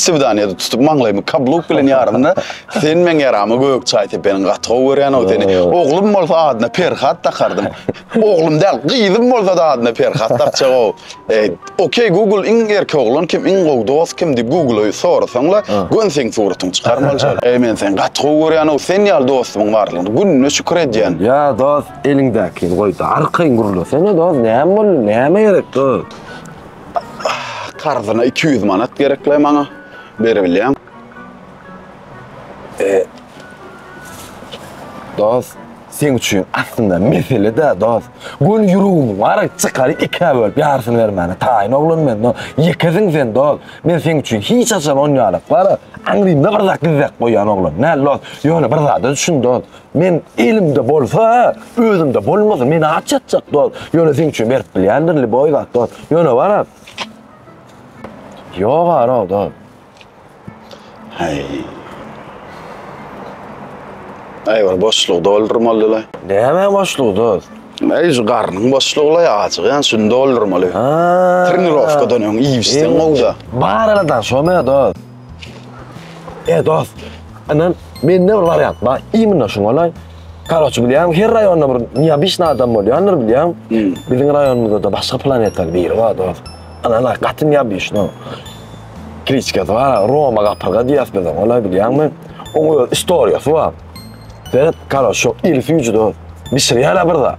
Psewdoniýada tutup maňlaýymy kabluk bilen ýarymda sen meň ýarama gök çaý sepeniň gaty gowy görýänow seni. Oglum bolsa adyna Perhat dakardym. Oglum däl, gyzym bolsa-da adyna Perhat dakjagow. E, Okey Google iň erki oglan kim, iň gowy dost kim diýip Google-y sorasaň-la, gön seň suratyňy çykar bolja. E, men seni gaty gowy görýänow, sen ýaly dostumyň barlygyna gününe şükür edýän. Ýa dost, eliňdäkini goý-da, arkaýyn gürlesene dost, näme boldy, näme gerek dost? Karzyna iki ýüz manat gerekle maňa. Beribilýän. E, dost, sen üçin aslynda mesele-de, dost. Göni ýüregimiz bar, çykaryp ikä bölüp ýarysyny bermäne taýyn oglan men, dost. Ýekesin sen, dost. Men seň üçin hiç haçan onýalyklara aňrymda bir zat gizläp goýan oglan däl, dost. Ýöne bir zada düşün, dost. Men elimde bolsa, özümde bolmaz. Men aç ýatjak dost. Ýöne seň üçin berip bilýändir liboý zat dost. Ýöne bara. Ýok ara dost. Hey. Ay bir boşluğu doldurmaly la. Näme boşlugy dost? Ay şu garnyň boşlugy la açyk ýan şuny doldurmaly. Ha. Trenirovkadan öň iýip içseň gowda. Bar aradan şo me dost. E dost, inan, mende bir wariant bar, immina şuň golaý. Karoçi, bilýäňmi, her raýonda bir neobyçnyý adam bolýandyr, bilýäňmi? Hmm. Biziň raýonymyzda-da başga planetaly biri bar, dost. Inan-a, gaty neobyçnyý. Kliçkasy bar, Roma gapyrga diýýäs biz oňa, golaý, bilýäňmi? Oň öz istoriýasy bar. Seret, karoçi, şo iri süýji, dost, bişirýär-ä bir zat.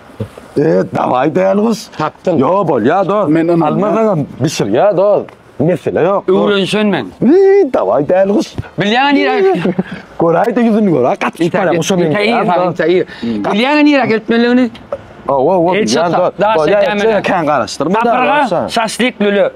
Eee dawai däl gyz. Tapdyň. Yo bolya do. Men ynanýan. Almazagam bişir ya do. Mesele yok. do. Öwrenişen men. Eee dawai däl gyz. Bilýäňä nirä? Göräý de ýüzüni göräý. Gaty Ýeter, çyparam ýeter, şo men. ýeter, ýeter, ýeter, ýeter. Bilýäňä nirä gelip bilmeliňini? Owo owo. El çatar, daş çekämene. Kän garaşdyrma da. Sapyrga, şaşlyk lüle.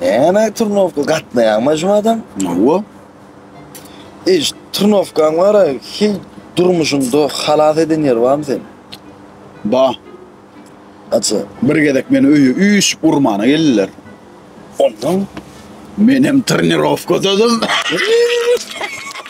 Näme turnowka gatnaýaňmy jumadan? Hawa. Eý, turnowkaň bar-a, heý, durmuşyňda halas eden ýeri barmy seniň? Bar. Gaça? Bir gezek meni öýe üýşüp urmana geldiler. Ondan? Menem turnirowkadadym.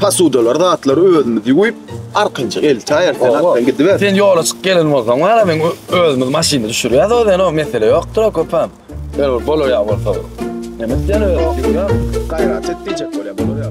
Pasudalar zatlary özümiz ýuwup, arkanjyk eltäýen sen atdan gidiber. Sen ýola çyk gelen bolsaň wara men özümiz maşyny düşürýäs o zeno mesele ýokdur o köpem. Ýöne bir bolaýýa bolsa. Nemes ýöne ýüwýär. Gaýrat et diýjek bolýa bolaýýa.